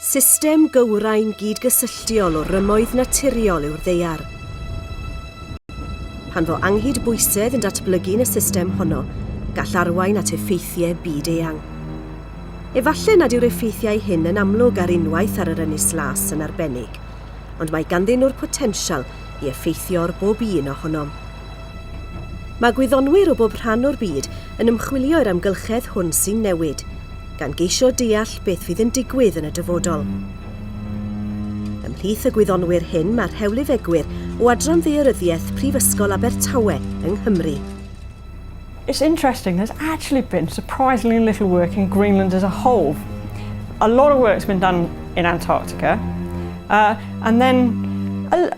System gywrain gydgysylltiol o rymoedd naturiol yw'r ddeiar. Pan fo anghyd bwysedd yn datblygu yn y system honno, gall arwain at effeithiau byd eang. Efallai nad yw'r effeithiau hyn yn amlwg ar unwaith ar yr ynys las yn arbennig, ond mae ganddyn nhw'r potensial i effeithio ar bob un ohonom. Mae gwyddonwyr o bob rhan o'r byd yn ymchwilio i'r amgylchedd hwn sy'n newid, gan geisio deall beth fydd yn digwydd yn y dyfodol. Ymhlith y gwyddonwyr hyn mae rhewlifegwyr o Adran Ddaearyddiaeth Prifysgol Abertawe yng Nghymru. It's interesting, there's actually been surprisingly little work in Greenland as a whole. A lot of work's been done in Antarctica, uh, and then a,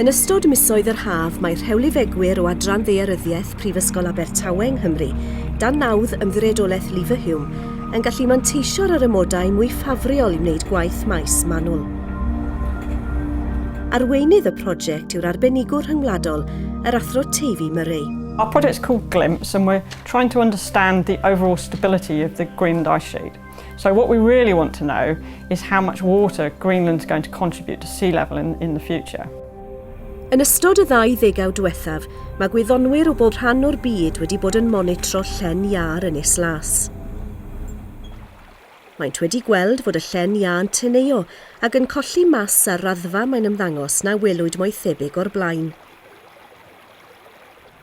Yn ystod misoedd yr haf mae rhewlifegwyr o Adran Ddaearyddiaeth Prifysgol Abertawe yng Nghymru, dan nawdd Ymddiriedolaeth Leverhulme, yn gallu manteisio'r yr amodau mwy ffafriol i wneud gwaith maes manwl. Arweinydd y prosiect yw'r arbenigwr rhyngwladol, yr Athro Teifi Murray. Our project's called GLIMPS and we're trying to understand the overall stability of the Greenland Ice Sheet. So what we really want to know is how much water Greenland's going to contribute to sea level in, in the future. Yn ystod y ddau ddegau diwethaf, mae gwyddonwyr o bob rhan o'r byd wedi bod yn monitro llen iar yn Is Las. Maent wedi gweld fod y llen iâ yn teneuo ac yn colli mas ar raddfa mae'n ymddangos na welwyd moethebig o'r blaen.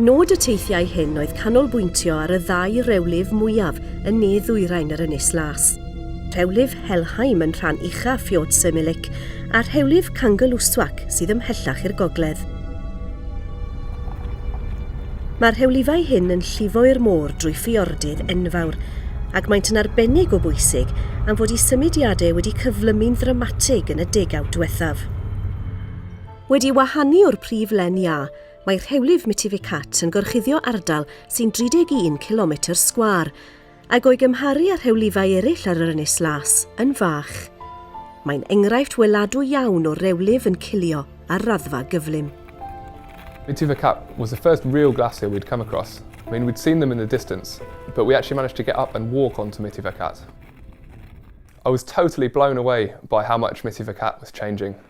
Nod y teithiau hyn oedd canolbwyntio ar y ddau rewlif mwyaf yn ne ddwyrain yr Ynys Las, rhewlif Helheim yn rhan ucha Fiord Sirmilik a rhewlif Kangerlussuaq sydd ymhellach i'r gogledd. Mae'r rhewlifau hyn yn llifo i'r môr drwy ffiordydd enfawr, ac maent yn arbennig o bwysig am fod i symudiadau wedi cyflymu'n ddramatig yn y degawd diwethaf. Wedi wahanu o'r prif len iâ, mae rhewlif Mitificat yn gorchuddio ardal sy'n 31 cilometr sgwâr, ac o'i gymharu â rhewlifau eraill ar yr Ynys Las, yn fach. Mae'n enghraifft weladwy iawn o rewlif yn cilio ar raddfa gyflym. Mitificat was the first real glacier we'd come across. I mean, we'd seen them in the distance, but we actually managed to get up and walk onto Mitificat. I was totally blown away by how much Mitificat was changing.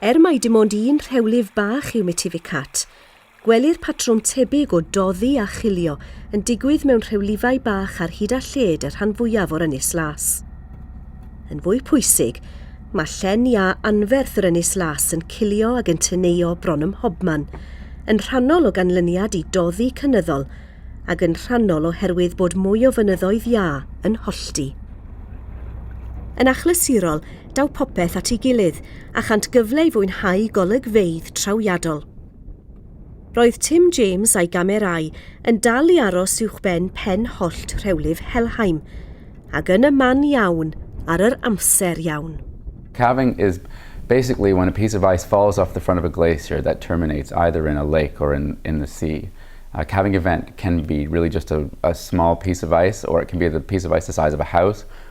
Er mai dim ond un rhewlif bach yw Mitificat, gwelir patrwm tebyg o doddi a chilio yn digwydd mewn rhewlifau bach ar hyd a lled y rhan fwyaf o'r Ynys Las. Yn fwy pwysig, mae llen iâ anferth yr Ynys Las yn cilio ag yn teneuo bron ym mhobman, yn rhannol o ganlyniad i doddi cynyddol ac yn rhannol oherwydd bod mwy o fynyddoedd iâ yn hollti. Yn achlysurol, daw popeth at ei gilydd a chant gyfle i fwynhau golygfeydd trawiadol. Roedd Tim James a'i gamerâu yn dal i aros uwchben pen hollt rhewlif Helheim, ac yn y man iawn ar yr amser iawn. Calving is basically when a piece of ice falls off the front of a glacier that terminates either in a lake or in in the sea. A calving event can be really just a a small piece of ice or it can be a piece of ice the size of a house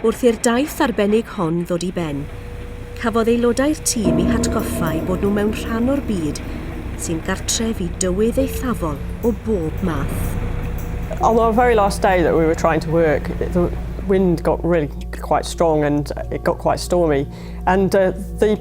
Wrth i'r daith arbennig hon ddod i ben, cafodd aelodau'r tîm eu hatgoffa eu bod nhw mewn rhan o'r byd sy'n gartref i dywydd eithafol o bob math. On our very last day that we were trying to work, the wind got really quite strong and it got quite stormy and the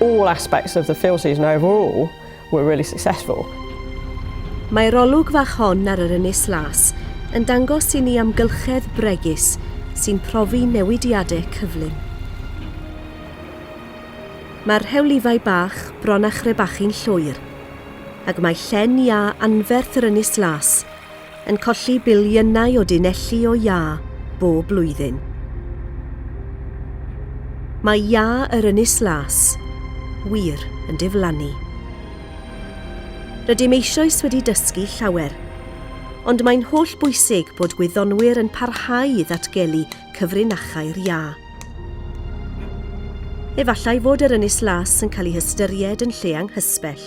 All aspects of the fill season overall were really successful. Mae'r olwg fach hon ar yr Ynys Las yn dangos i ni amgylchedd bregus sy'n profi newidiadau cyflym. Mae'r rhewlifau bach bron a chrebachu'n llwyr, ac mae llen iâ anferth yr Ynys Las yn colli biliynau o dunelli o iâ bob blwyddyn. Mae iâ yr Ynys Las wir yn diflannu. Rydym eisoes wedi dysgu llawer, ond mae'n holl bwysig bod gwyddonwyr yn parhau i ddatgelu cyfrinachau'r iâ. Efallai fod yr Ynys Las yn cael ei hystyried yn lle anghysbell.